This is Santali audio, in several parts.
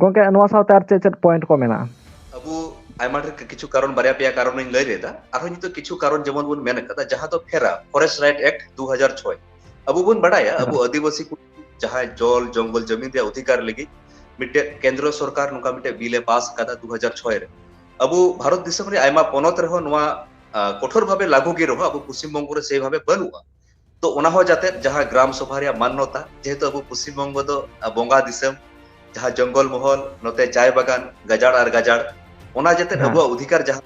ᱜᱚᱝᱠᱮ ᱱᱚᱣᱟ ᱥᱟᱶᱛᱮ ᱟᱨ ᱪᱮᱫ ᱪᱮᱫ ᱯᱚᱭᱮᱱᱴ ᱠᱚ ᱢᱮᱱᱟᱜᱼᱟ? ᱟᱵᱚ ᱟᱭᱢᱟ ᱰᱷᱮᱨ ᱠᱤᱪᱷᱩ ᱠᱟᱨᱚᱱ ᱵᱟᱨᱭᱟ ᱯᱮᱭᱟ ᱠᱟᱨᱚᱱᱤᱧ ᱞᱟᱹᱭ ᱞᱮᱫᱟ ᱟᱨᱦᱚᱸ ᱱᱤᱛᱚᱜ ᱠᱤᱪᱷᱩ ᱠᱟᱨᱚᱱ ᱡᱮᱢᱚᱱ ᱵᱚᱱ ᱢᱮᱱ ᱠᱟᱫᱟ ᱡᱟᱦᱟᱸ ᱫᱚ ᱯᱷᱮᱨᱟ ᱯᱷᱚᱨᱮᱥᱴ ᱨᱟᱭᱤᱴ ᱮᱠᱴ ᱫᱩ ᱦᱟᱡᱟᱨ ᱪᱷᱚᱭ ᱟᱵᱚ ᱵᱚᱱ ᱵᱟᱲᱟᱭᱟ ᱟᱵᱚ ᱟᱹᱫᱤᱵᱟᱹᱥᱤ ᱠᱚ ᱡᱟᱦᱟᱸᱭ ᱡᱚᱞ ᱡᱚᱝᱜᱚᱞ ᱡᱟᱹᱢᱤᱱ ᱨᱮᱭᱟᱜ ᱚᱫᱷᱤᱠᱟᱨ ᱞᱟᱹᱜᱤᱫ ᱢᱤᱫᱴᱮᱡ ᱠᱮᱱᱫᱨᱚ ᱥᱚᱨᱠᱟᱨ ᱱᱚᱝᱠᱟ ᱢᱤᱫᱴᱮᱡ ᱵᱤᱞ ᱮ ᱯᱟᱥ ᱟᱠᱟᱫᱟ ᱫᱩ ᱦᱟᱡᱟᱨ ᱪᱷᱚᱭ ᱨᱮ ᱟᱵᱚ ᱵᱷᱟᱨᱚᱛ ᱫᱤᱥᱚᱢ ᱨᱮᱭᱟᱜ ᱟᱭᱢᱟ ᱯᱚᱱᱚᱛ ᱨᱮᱦᱚᱸ ᱱᱚᱣᱟ ᱠᱚᱴᱷᱳᱨ ᱵᱷᱟᱵᱮ ᱞᱟᱹᱜᱩ ᱜᱮ ᱨᱮᱦᱚᱸ ᱟᱵᱚ ᱯᱚᱥᱪᱤᱢ ᱵᱚᱝᱜᱚ ᱨᱮ ᱥᱮ ᱵᱷᱟᱵᱮ ᱵᱟᱹᱱᱩᱜᱼᱟ ᱛᱚ ᱚᱱᱟ ᱦᱚᱸ ᱡᱟᱛᱮ ᱡᱟᱦᱟᱸ ᱜᱨᱟᱢ ᱥᱚᱵᱷᱟ ᱨᱮᱭᱟᱜ ᱢᱟᱱᱱᱚᱛᱟ ᱡᱮᱦᱮᱛᱩ ᱟᱵᱚ ᱯᱚᱥᱪᱤᱢ ᱵᱚᱝᱜᱚ ᱫᱚ ᱵᱚᱸᱜᱟ ᱫᱤᱥᱚᱢ ᱡᱟᱦᱟᱸ ᱡᱚᱝᱜᱚᱞ ᱢᱚᱦᱚᱞ ᱱᱚᱛᱮ ᱪᱟᱭ ᱵᱟᱜᱟᱱ ᱜᱟᱡᱟᱲ ᱟᱨ ᱜᱟᱡᱟᱲ ᱚᱱᱟ ᱡᱟᱛᱮ ᱦᱮᱸ ᱟᱵᱚᱣᱟᱜ ᱚᱫᱷᱤᱠᱟᱨ ᱡᱟᱦᱟᱸ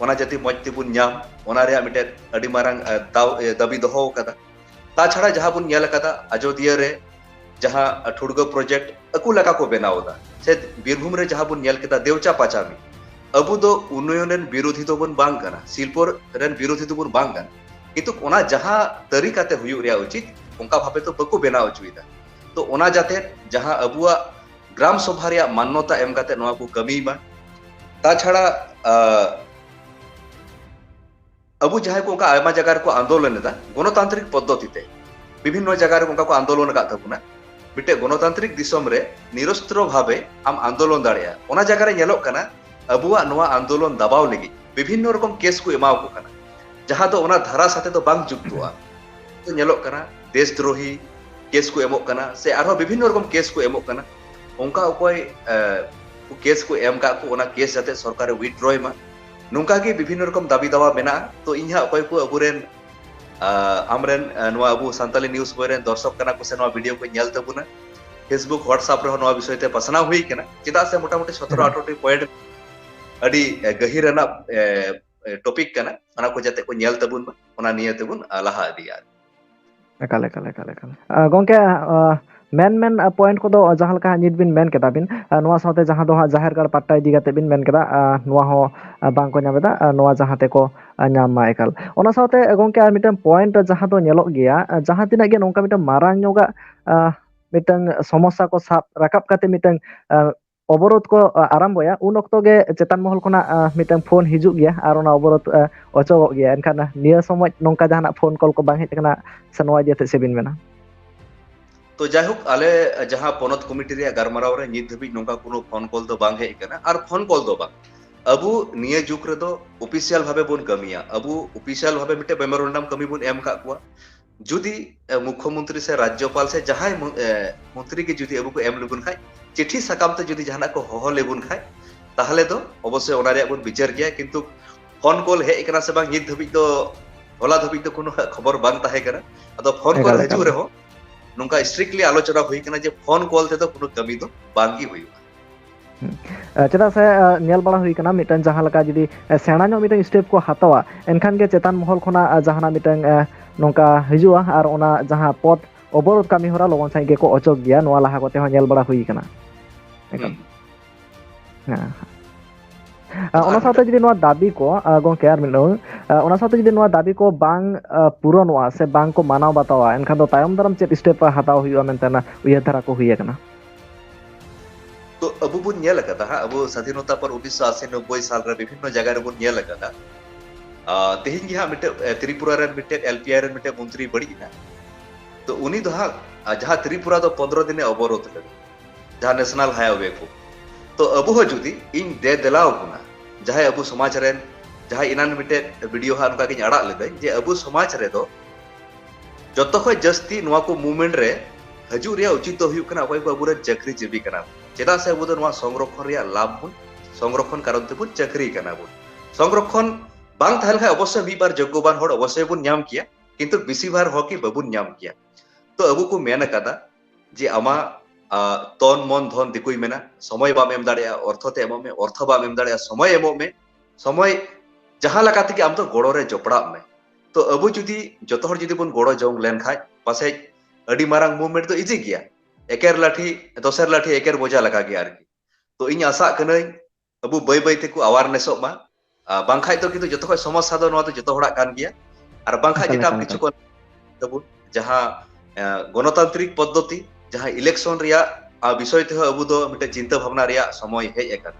ᱚᱱᱟ ᱡᱟᱛᱮ ᱢᱚᱡᱽ ᱛᱮᱵᱚᱱ ᱧᱟᱢ ᱚᱱᱟ ᱨᱮᱭᱟᱜ ᱢᱤᱫᱴᱮᱱ ᱟᱹᱰᱤ ᱢᱟᱨᱟᱝ ᱫᱟᱣ ᱫᱟᱹᱵᱤ ᱫᱚᱦᱚ ᱟᱠᱟᱫᱟ ᱛᱟᱪᱷᱟᱲᱟ ᱡᱟᱦᱟᱸ ᱵᱚᱱ ᱧᱮᱞ ᱟᱠᱟᱫᱟ ᱟᱡᱚᱫᱤᱭᱟᱹ ᱨᱮ ᱡᱟᱦᱟᱸ ᱴᱷᱩᱲᱜᱟᱹ ᱯᱨᱚᱡᱮᱠᱴ ᱟᱠᱚ ᱞᱮᱠᱟ ᱠᱚ ᱵᱮᱱᱟᱣ ᱮᱫᱟ ᱥᱮ ᱵᱤᱨᱵᱷᱩᱢ ᱨᱮ ᱡᱟᱦᱟᱸ ᱵᱚᱱ ᱧᱮᱞ ᱠᱮᱫᱟ ᱫᱮᱣᱪᱟ ᱯᱟᱪᱟᱢᱤ ᱟᱵᱚ ᱫᱚ ᱩᱱᱱᱚᱭᱚᱱ ᱨᱮᱱ ᱵᱤᱨᱳᱫᱷᱤ ᱫᱚᱵᱚᱱ ᱵᱟᱝ ᱠᱟᱱᱟ ᱥᱤᱞᱯᱚᱨ ᱨᱮᱱ ᱵᱤᱨᱳᱫᱷᱤ ᱫᱚᱵᱚᱱ ᱵᱟᱝ ᱠᱟᱱᱟ ᱠᱤᱱᱛᱩ ᱚᱱᱟ ᱡᱟᱦᱟᱸ ᱛᱟᱹᱨᱤᱠᱟ ᱛᱮ ᱦᱩᱭᱩᱜ ᱨᱮᱭᱟᱜ ᱩᱪᱤᱛ ᱚᱱᱠᱟ ᱵᱷᱟᱵᱮ ᱛᱚ ᱵᱟᱠᱚ ᱵᱮᱱᱟᱣ ᱦᱚᱪᱚᱭᱮᱫᱟ ᱛᱚ ᱚᱱᱟ ᱡᱟᱛᱮ ᱡᱟᱦᱟᱸ ᱟᱵᱚᱣᱟᱜ ᱜᱨᱟᱢ ᱥᱚᱵᱷᱟ ᱨᱮᱭᱟᱜ ᱢᱟᱱᱱᱚᱛᱟ ᱮᱢ ᱠᱟᱛᱮ ᱱᱚᱣᱟ ᱠᱚ ᱠᱟᱹᱢᱤ ᱢᱟ ᱛᱟᱪᱷᱟᱲᱟ ᱟᱵᱚ ᱡᱟᱦᱟᱸᱭ ᱠᱚ ᱚᱱᱠᱟ ᱟᱭᱢᱟ ᱡᱟᱭᱜᱟ ᱨᱮᱠᱚ ᱟᱱᱫᱳᱞᱚᱱ ᱮᱫᱟ ᱜᱚᱱᱚᱛᱟᱱᱛᱨᱤᱠ ᱯᱚᱫᱽᱫᱷᱚᱛᱤ ᱛᱮ ᱵᱤᱵᱷᱤᱱᱱᱚ ᱡᱟᱭᱜᱟ ᱨᱮ ᱚᱱᱠᱟ ᱠᱚ ᱟᱱᱫᱳᱞᱚᱱ ᱟᱠᱟᱫ ᱛᱟᱵᱚᱱᱟ ᱢᱤᱫᱴᱮᱱ ᱜᱚᱱᱚᱛᱟᱱᱛᱨᱤᱠ ᱫᱤᱥᱚᱢ ᱨᱮ ᱱᱤᱨᱚᱥᱛᱨᱚ ᱵᱷᱟᱵᱮ ᱟᱢ ᱟᱱᱫᱳᱞᱚᱱ ᱫᱟᱲᱮᱭᱟᱜᱼᱟ ᱚᱱᱟ ᱡᱟᱭᱜᱟ ᱨᱮ ᱧᱮᱞᱚᱜ ᱠᱟᱱᱟ ᱟᱵᱚᱣᱟᱜ ᱱᱚᱣᱟ ᱟᱱᱫᱳᱞᱚᱱ ᱫᱟᱵᱟᱣ ᱞᱟᱹᱜᱤᱫ ᱵᱤᱵᱷᱤᱱᱱᱚ ᱨᱚᱠᱚᱢ ᱠᱮᱥ ᱠᱚ ᱮᱢᱟᱣ ᱠᱚ ᱠᱟᱱᱟ ᱡᱟᱦᱟᱸ ᱫᱚ ᱚᱱᱟ ᱫᱷᱟᱨᱟ ᱥᱟᱛᱮ ᱫᱚ ᱵᱟᱝ ᱡᱩᱠᱛᱚᱜᱼᱟ ᱛᱚ ᱧᱮᱞᱚᱜ ᱠᱟᱱᱟ ᱫᱮᱥ ᱫᱨᱳᱦᱤ ᱠᱮᱥ ᱠᱚ ᱮᱢᱚᱜ ᱠᱟᱱᱟ ᱥᱮ ᱟᱨᱦᱚᱸ ᱵᱤᱵᱷᱤᱱᱱᱚ ᱨᱚᱠᱚᱢ ᱠᱮᱥ ᱠᱚ ᱮᱢᱚᱜ ᱠᱟᱱᱟ ᱚᱱᱠᱟ ᱚᱠᱚᱭ ᱠᱮᱥ ᱠᱚ ᱮᱢ ᱠᱟᱜ ᱠᱚ ᱚᱱᱟ ᱠᱮᱥ ᱡᱟᱛᱮ ᱥᱚᱨᱠᱟᱨᱮ ᱩᱭᱤᱰᱨᱚᱭ ᱢᱟ ᱱᱚᱝᱠᱟ ᱜᱮ ᱵᱤᱵᱷᱤᱱᱱᱚ ᱨᱚᱠᱚᱢ ᱫᱟᱵᱤ ᱫᱟᱣᱟ ᱢᱮᱱᱟᱜᱼᱟ ᱛᱚ ᱤᱧ ᱦᱟᱸᱜ ᱚᱠᱚᱭ ᱠᱚ ᱟᱵᱚᱨᱮᱱ ᱟᱢᱨᱮᱱ ᱱᱚᱣᱟ ᱟᱵᱚ ᱥᱟᱱᱛᱟᱞᱤ ᱱᱤᱭᱩᱡᱽ ᱵᱚᱭ ᱨᱮᱱ ᱫᱚᱨশᱚᱠ ᱠᱟᱱᱟ ᱠᱚ ᱥᱮ ᱱᱚᱣᱟ ᱵᱷᱤᱰᱤᱭᱳ ᱠᱚ ᱧᱮᱞ ᱛᱟᱵᱚᱱᱟ ᱯᱷᱮᱥᱵᱩᱠ ᱦᱳᱣᱟᱴᱥᱟᱯ ᱨᱮᱦᱚᱸ ᱱᱚᱣᱟ ᱵᱤᱥᱚᱭ ᱛᱮ ᱯᱟᱥᱱᱟᱣ ᱦᱩᱭ ᱠᱟᱱᱟ ᱪᱮᱫᱟᱜ ᱥᱮ ᱢᱚᱴᱟᱢᱩᱴᱤ ᱥᱚᱛᱨᱚ ᱟᱴᱷᱨᱚᱴᱤ ᱯᱚᱭᱮᱱᱴ ᱟᱹᱰᱤ ᱜᱟᱹᱦᱤᱨ ᱨᱮᱱᱟᱜ ᱴᱚᱯᱤᱠ ᱠᱟᱱᱟ ᱚᱱᱟ ᱠᱚ ᱡᱟᱛᱮ ᱠᱚ ᱧᱮᱞ ᱛᱟᱵᱚᱱ ᱢᱟ ᱚᱱᱟ ᱱᱤᱭᱟᱹ ᱛᱮᱵᱚᱱ ᱞᱟᱦᱟ ᱤᱫᱤᱭᱟ ᱮᱠᱟᱞ ᱮᱠᱟᱞ ᱮᱠᱟᱞ ᱮᱠᱟᱞ ᱜᱚᱝᱠᱮ ᱢᱮᱱ ᱢᱮᱱ ᱯᱚᱭᱮᱱᱴ ᱠᱚᱫᱚ ᱡᱟᱦᱟᱸ ᱞᱮᱠᱟ ᱱᱤᱛ ᱵᱤᱱ ᱢᱮᱱ ᱠᱮᱫᱟ ᱵᱤᱱ ᱱᱚᱣᱟ ᱥᱟᱶᱛᱮ ᱡᱟᱦᱟᱸ ᱫᱚ ᱦᱟᱸᱜ ᱡᱟᱦᱮᱨ ᱜᱟᱲ ᱯᱟ ᱤᱫᱤ ᱠᱟᱛᱮ ᱵᱤᱱ ᱢᱮᱱ ᱠᱮᱫᱟ ᱱᱚᱣᱟ ᱦᱚᱸ ᱵᱟᱝᱠᱚ ᱧᱟᱢ ᱮᱫᱟ ᱱᱚᱣᱟ ᱡᱟᱦᱟᱸ ᱛᱮᱠᱚ ᱧᱟᱢ ᱢᱟ ᱮᱠᱟᱞ ᱚᱱᱟ ᱥᱟᱶᱛᱮ ᱜᱚᱝᱠᱮ ᱟᱨ ᱢᱤᱫᱴᱮᱱ ᱯᱚᱭᱮᱱᱴ ᱡᱟᱦᱟᱸ ᱫᱚ ᱧᱮᱞᱚᱜ ᱜᱮᱭᱟ ᱡᱟᱦᱟᱸ ᱛᱤᱱᱟᱹᱜ ᱜᱮ ᱱᱚᱝᱠᱟ ᱢᱤᱫᱴᱟᱝ ᱢᱟᱨᱟᱝ ᱧᱚᱜᱟᱜ ᱢᱤᱫᱴᱟᱝ ᱥᱚᱢᱚᱥᱥᱟ ᱠᱚ ᱥᱟᱵ ᱨᱟᱠᱟᱵ ᱠᱟᱛᱮ ᱢᱤᱫᱴᱟᱝ ᱚᱵᱚᱨᱳᱫᱷ ᱠᱚ ᱟᱨᱟᱢᱵᱚᱭᱟ ᱩᱱ ᱚᱠᱛᱚ ᱜᱮ ᱪᱮᱛᱟᱱ ᱢᱚᱦᱚᱞ ᱠᱷᱚᱱᱟᱜ ᱢᱤᱫᱴᱟᱝ ᱯᱷᱳᱱ ᱦᱤᱡᱩᱜ ᱜᱮᱭᱟ ᱟᱨ ᱚᱱᱟ ᱚᱵᱚᱨᱳᱫᱷ ᱚᱪᱚᱜᱚᱜ ᱜᱮᱭᱟ ᱮᱱᱠᱷᱟᱱ ᱱᱤᱭᱟᱹ ᱥᱚᱢᱚᱭ ᱱᱚᱝᱠᱟ ᱡᱟᱦᱟᱱᱟᱜ ᱯᱷᱳᱱ ᱠᱚᱞ ᱠᱚ ᱵᱟᱝ ᱦᱮᱡ ᱟᱠᱟᱱᱟ ᱥᱮ ᱱᱚᱣᱟ ᱤᱫᱤ ᱠᱟᱛᱮ ᱪᱮᱫ ᱵᱤᱱ ᱢᱮᱱᱟ ᱛᱚ ᱡᱟᱭᱦᱳᱠ ᱟᱞᱮ ᱡᱟᱦᱟᱸ ᱯᱚᱱᱚᱛ ᱠᱚᱢᱤᱴᱤ ᱨᱮᱭᱟᱜ ᱜᱟᱞᱢᱟᱨᱟᱣ ᱨᱮ ᱱᱤᱛ ᱫᱷᱟᱹᱵᱤᱡ ᱱᱚᱝᱠᱟ ᱠᱳᱱᱳ ᱯᱷᱳᱱ ᱠᱚᱞ ᱫᱚ ᱵᱟᱝ ᱦᱮᱡ ᱟᱠᱟᱱᱟ ᱟᱨ ᱯᱷᱳᱱ ᱠᱚᱞ ᱫᱚ ᱵᱟᱝ ᱟᱵᱚ ᱱᱤᱭᱟᱹ ᱡᱩᱜᱽ ᱨᱮᱫᱚ ᱚᱯᱷᱤᱥᱤᱭᱟᱞ ᱵᱷᱟᱵᱮ ᱵᱚᱱ ᱠᱟᱹᱢᱤᱭᱟ ᱟᱵᱚ ᱚᱯᱷᱤᱥᱤᱭᱟᱞ ᱵᱷᱟᱵᱮ ᱢᱤᱫᱴᱮᱱ ᱢᱮᱢᱳᱨᱮᱱᱰᱟᱢ ᱠᱟᱹᱢᱤ ᱵᱚᱱ ᱮᱢ ᱟᱠᱟᱫ ᱠᱚᱣᱟ ᱡᱩᱫᱤ ᱢᱩᱠᱷᱚ ᱢᱚᱱᱛᱨᱤ ᱥᱮ ᱨᱟᱡᱽᱡᱚᱯᱟᱞ ᱥᱮ ᱡᱟᱦᱟᱸᱭ ᱢᱚᱱᱛᱨᱤ ᱜᱮ ᱡᱩᱫᱤ ᱟᱵᱚ ᱠᱚ ᱮᱢ ᱞᱮᱵᱚᱱ ᱠᱷᱟᱡ ᱪᱤᱴᱷᱤ ᱥᱟᱠᱟᱢ ᱛᱮ ᱡᱩᱫᱤ ᱡᱟᱦᱟᱱᱟᱜ ᱠᱚ ᱦᱚᱦᱚ ᱞᱮᱵᱚᱱ ᱠᱷᱟᱡ ᱛᱟᱦᱚᱞᱮ ᱫᱚ ᱚᱵᱚᱥᱥᱳᱭ ᱚᱱᱟ ᱨᱮᱭᱟᱜ ᱵᱚᱱ ᱵᱤᱪᱟᱹᱨ ᱜᱮᱭᱟ ᱠᱤᱱᱛᱩ ᱯᱷᱳᱱ ᱠᱚᱞ ᱦᱮᱡ ᱠᱟᱱᱟ ᱥᱮ ᱵᱟᱝ ᱱᱤᱛ ᱫᱷᱟᱹᱵᱤᱡ ᱫᱚ ᱦᱚᱞᱟ ᱫᱷᱟᱹᱵᱤᱡ ᱫᱚ ᱠᱳᱱᱳ ᱠᱷᱚᱵᱚᱨ ᱵᱟᱝ ᱛᱟᱦᱮᱸ ᱠᱟᱱᱟ ᱟᱫᱚ ᱯᱷᱳᱱ ᱠᱚᱞ ᱦᱤᱡᱩᱜ ᱨᱮᱦᱚᱸ ᱱᱚᱝᱠᱟ ᱥᱴᱨᱤᱠᱴᱞᱤ ᱟᱞᱳᱪᱚᱱᱟ ᱦᱩᱭ ᱠᱟᱱᱟ ᱡᱮ ᱯᱷᱳᱱ ᱠᱚᱞ ᱛᱮᱫᱚ ᱠᱳᱱᱳ ᱠᱟᱹᱢᱤ ᱫᱚ ᱵᱟᱝᱜᱮ ᱦᱩᱭᱩᱜᱼᱟ ᱪᱮᱫᱟᱜ ᱥᱮ ᱧᱮᱞ ᱵᱟᱲᱟ ᱦᱩᱭ ᱟᱠᱟᱱᱟ ᱢᱤᱫᱴᱟᱝ ᱡᱟᱦᱟᱸ ᱞᱮᱠᱟ ᱡᱩᱫᱤ ᱥᱮᱬᱟ ᱧᱚᱜ ᱢᱤᱫᱴᱟᱝ ᱥᱴᱮᱯ ᱠᱚ ᱦᱟᱛᱟᱣᱟ ᱮᱱᱠᱷᱟᱱ ᱜᱮ ᱪᱮᱛᱟᱱ ᱢᱚᱦᱚᱞ ᱠᱷᱚᱱᱟᱜ ᱡᱟᱦᱟᱱᱟᱜ ᱢᱤᱫᱴᱟᱝ ᱱᱚᱝᱠᱟ ᱦᱤᱡᱩᱜᱼᱟ ᱟᱨ ᱚᱱᱟ ᱡᱟᱦᱟᱸ ᱯᱚᱫ ᱚᱵᱚᱨᱳᱫᱷ ᱠᱟᱹᱢᱤ ᱦᱚᱨᱟ ᱞᱚᱜᱚᱱ ᱥᱟᱺᱦᱤᱡ ᱜᱮᱠᱚ ᱚᱪᱚᱜ ᱜᱮᱭᱟ ᱱᱚᱣᱟ ᱞᱟᱦᱟ ᱠᱚᱛᱮ ᱦᱚᱸ ᱧᱮᱞ ᱵᱟᱲᱟ ᱦᱩᱭ ᱟᱠᱟᱱᱟ ᱮᱠᱟᱞ ᱦᱮᱸ ᱚᱱᱟ ᱥᱟᱶᱛᱮ ᱡᱩᱫᱤ ᱱᱚᱣᱟ ᱫᱟᱹᱵᱤ ᱠᱚ ᱜᱚᱝᱠᱮ ᱟᱨ ᱢᱤᱫ ᱫᱷᱟᱣ ᱚᱱᱟ ᱥᱟᱶᱛᱮ ᱡᱩᱫᱤ ᱱᱚᱣᱟ ᱫᱟᱹᱵᱤ ᱠᱚ ᱵᱟᱝ ᱯᱩᱨᱚᱱᱚᱜᱼᱟ ᱥᱮ ᱵᱟᱝ ᱠᱚ ᱢᱟᱱᱟᱣ ᱵᱟᱛᱟᱣᱟ ᱮᱱᱠᱷᱟᱱ ᱫᱚ ᱛᱟᱭᱚᱢ ᱫᱟᱨᱟᱢ ᱪᱮᱫ ᱥᱴᱮᱯ ᱦᱟᱛᱟᱣ ᱦᱩᱭᱩᱜᱼᱟ ᱢᱮᱱᱛᱮ ᱩᱭᱦᱟᱹᱨ ᱫᱷᱟᱨᱟ ᱠᱚ ᱦᱩᱭ ᱟᱠᱟᱱᱟ ᱛᱚ ᱟᱵᱚ ᱵᱚᱱ ᱧᱮᱞ ᱟᱠᱟᱫᱟ ᱦᱟᱸᱜ ᱟᱵᱚ ᱥᱟᱫᱷᱤᱱᱚᱛᱟ ᱯᱚᱨ ᱩᱱᱤᱥᱥᱚ ᱟᱥᱤ ᱱᱚᱵᱵᱚᱭ ᱥᱟᱞ ᱨᱮ ᱵᱤᱵᱷᱤᱱᱱᱚ ᱡᱟᱭᱜᱟ ᱨᱮᱵᱚᱱ ᱧᱮᱞ ᱟᱠᱟᱫᱟ ᱛᱮᱦᱮᱧ ᱜᱮ ᱦᱟᱸᱜ ᱢᱤᱫᱴᱮᱡ ᱛᱨᱤᱯᱩᱨᱟ ᱨᱮᱱ ᱢᱤᱫᱴᱮᱡ ᱮᱞ ᱯᱤ ᱟᱭ ᱨᱮᱱ ᱢᱤᱫᱴᱮᱡ ᱢᱚᱱᱛᱨᱤ ᱵᱟᱹᱲᱤᱡ ᱮᱱᱟ ᱛᱚ ᱩᱱᱤ ᱫᱚ ᱦᱟᱸᱜ ᱡᱟᱦᱟᱸ ᱛᱨᱤᱯᱩᱨᱟ ᱫᱚ ᱯᱚᱱᱫᱨᱚ ᱫᱤᱱᱮ ᱚᱵᱚᱨᱳᱫᱷ ᱞᱮᱫᱟ ᱡᱟᱦᱟᱸ ᱱᱮᱥᱱᱟᱞ ᱦᱟᱭᱣᱮ ᱠᱚ ᱛᱚ ᱟᱵᱚ ᱦᱚᱸ ᱡᱩᱫᱤ ᱤᱧ ᱫᱮ ᱫᱮᱞᱟᱣ ᱵᱚᱱᱟ ᱡᱟᱦᱟᱸᱭ ᱟᱵᱚ ᱥᱚᱢᱟᱡᱽ ᱨᱮᱱ ᱡᱟᱦᱟᱸᱭ ᱮᱱᱟᱱ ᱢᱤᱫᱴᱮᱡ ᱵᱷᱤᱰᱤᱭᱳ ᱦᱟᱸᱜ ᱱᱚᱝᱠᱟ ᱜᱤᱧ ᱟᱲᱟᱜ ᱞᱮᱫᱟᱹᱧ ᱡᱮ ᱟᱵᱚ ᱥᱚᱢᱟᱡᱽ ᱨᱮᱫᱚ ᱡᱚᱛᱚ ᱠᱷᱚᱱ ᱡᱟᱹᱥᱛᱤ ᱱᱚᱣᱟ ᱠᱚ ᱢᱩᱵᱷᱢᱮᱱᱴ ᱨᱮ ᱦᱤᱡᱩᱜ ᱨᱮᱭᱟᱜ ᱩᱪᱤᱛ ᱫᱚ ᱦᱩᱭᱩᱜ ᱠᱟᱱᱟ ᱚᱠᱚᱭ ᱠᱚ ᱟᱵᱚᱨᱮᱱ ᱪᱟᱹᱠᱨᱤ ᱡᱤᱵᱤ ᱠᱟᱱᱟ ᱪᱮᱫᱟᱜ ᱥᱮ ᱟᱵᱚ ᱫᱚ ᱱᱚᱣᱟ ᱥᱚᱝᱨᱚᱠᱷᱚᱱ ᱨᱮᱭᱟᱜ ᱞᱟᱵᱷ ᱵᱚᱱ ᱥᱚᱝᱨᱚᱠᱷᱚᱱ ᱠᱟᱨᱚᱱ ᱛᱮᱵᱚᱱ ᱪᱟᱹᱠᱨᱤ ᱠᱟᱱᱟ ᱵᱚᱱ ᱥᱚᱝᱨᱚᱠᱷᱚᱱ ᱵᱟᱝ ᱛᱟᱦᱮᱸ ᱞᱮᱠᱷᱟᱱ ᱚᱵᱚᱥᱥᱳᱭ ᱢᱤᱫ ᱵᱟᱨ ᱡᱳᱜᱽᱜᱚᱵᱟᱱ ᱦᱚᱲ ᱚᱵᱚᱥᱥᱳᱭ ᱵᱚᱱ ᱧᱟᱢ ᱠᱮᱭᱟ ᱠᱤᱱᱛᱩ ᱵᱮᱥᱤ ᱵᱷᱟᱨ ᱦᱚᱲ ᱜᱮ ᱵᱟᱵᱚᱱ ᱧᱟᱢ ᱠᱮᱭᱟ ᱛᱚ ᱟᱵᱚ ᱠᱚ ᱢᱮᱱ ᱟᱠᱟᱫᱟ ᱡᱮ ᱟᱢᱟᱜ ᱛᱚᱱ ᱢᱚᱱ ᱫᱷᱚᱱ ᱫᱤᱠᱩᱭ ᱢᱮᱱᱟ ᱥᱚᱢᱚᱭ ᱵᱟᱢ ᱮᱢ ᱫᱟᱲᱮᱭᱟᱜᱼᱟ ᱚᱨᱛᱷᱚ ᱛᱮ ᱮᱢᱚᱜ ᱢᱮ ᱚᱨᱛᱷᱚ ᱵᱟᱢ ᱮᱢ ᱫᱟᱲᱮᱭᱟᱜᱼᱟ ᱥᱚᱢᱚᱭ ᱮᱢᱚᱜ ᱢᱮ ᱥᱚᱢᱚᱭ ᱡᱟᱦᱟᱸ ᱞᱮᱠᱟ ᱛᱮᱜᱮ ᱟᱢ ᱫᱚ ᱜᱚᱲᱚ ᱨᱮ ᱡᱚᱯᱲᱟᱜ ᱢᱮ ᱛᱚ ᱟᱵᱚ ᱡᱩᱫᱤ ᱡᱚᱛᱚ ᱦᱚᱲ ᱡᱩᱫᱤ ᱵᱚᱱ ᱜᱚᱲᱚ ᱡᱚᱝ ᱞᱮᱱ ᱠᱷᱟᱡ ᱯᱟᱥᱮᱡ ᱟᱹᱰᱤ ᱢᱟᱨᱟᱝ ᱢᱩᱵᱷᱢᱮᱱᱴ ᱫᱚ ᱤᱡᱤ ᱜᱮᱭᱟ ᱮᱠᱮᱨ ᱞᱟᱴᱷᱤ ᱫᱚᱥᱮᱨ ᱞᱟᱴᱷᱤ ᱮᱠᱮᱨ ᱵᱚᱡᱟ ᱞᱮᱠᱟ ᱜᱮ ᱟᱨᱠᱤ ᱛᱚ ᱤᱧ ᱟᱥᱟᱜ ᱠᱟᱹᱱᱟᱹᱧ ᱟᱵᱚ ᱵᱟᱹᱭ ᱵᱟᱹᱭ ᱛᱮᱠᱚ ᱟᱣᱟᱨᱱᱮᱥᱚᱜ ᱢᱟ ᱵᱟᱝᱠᱷᱟᱡ ᱫᱚ ᱠᱤᱱᱛᱩ ᱡᱚᱛᱚ ᱠᱷᱚᱡ ᱥᱚᱢᱚᱥᱥᱟ ᱫᱚ ᱱᱚᱣᱟ ᱫᱚ ᱡᱚᱛᱚ ᱦᱚᱲᱟᱜ ᱠᱟᱱ ᱜᱮᱭᱟ ᱟᱨ ᱵᱟᱝᱠᱷᱟᱡ ᱮᱴᱟᱜ ᱠᱤᱪᱷᱩ ᱠᱚ ᱛᱟᱵᱚᱱ ᱡᱟᱦᱟᱸ ᱜᱚᱱᱚᱛᱟᱱᱛᱨᱤᱠ ᱯᱚᱫᱽᱫᱷᱚᱛᱤ ᱡᱟᱦᱟᱸ ᱤᱞᱮᱠᱥᱚᱱ ᱨᱮᱭᱟᱜ ᱵᱤᱥᱚᱭ ᱛᱮᱦᱚᱸ ᱟᱵᱚ ᱫᱚ ᱢᱤᱫᱴᱮᱱ ᱪᱤᱱᱛᱟᱹ ᱵᱷᱟᱵᱱᱟ ᱨᱮᱭᱟᱜ ᱥᱚᱢᱚᱭ ᱦᱮᱡ ᱟᱠᱟᱱᱟ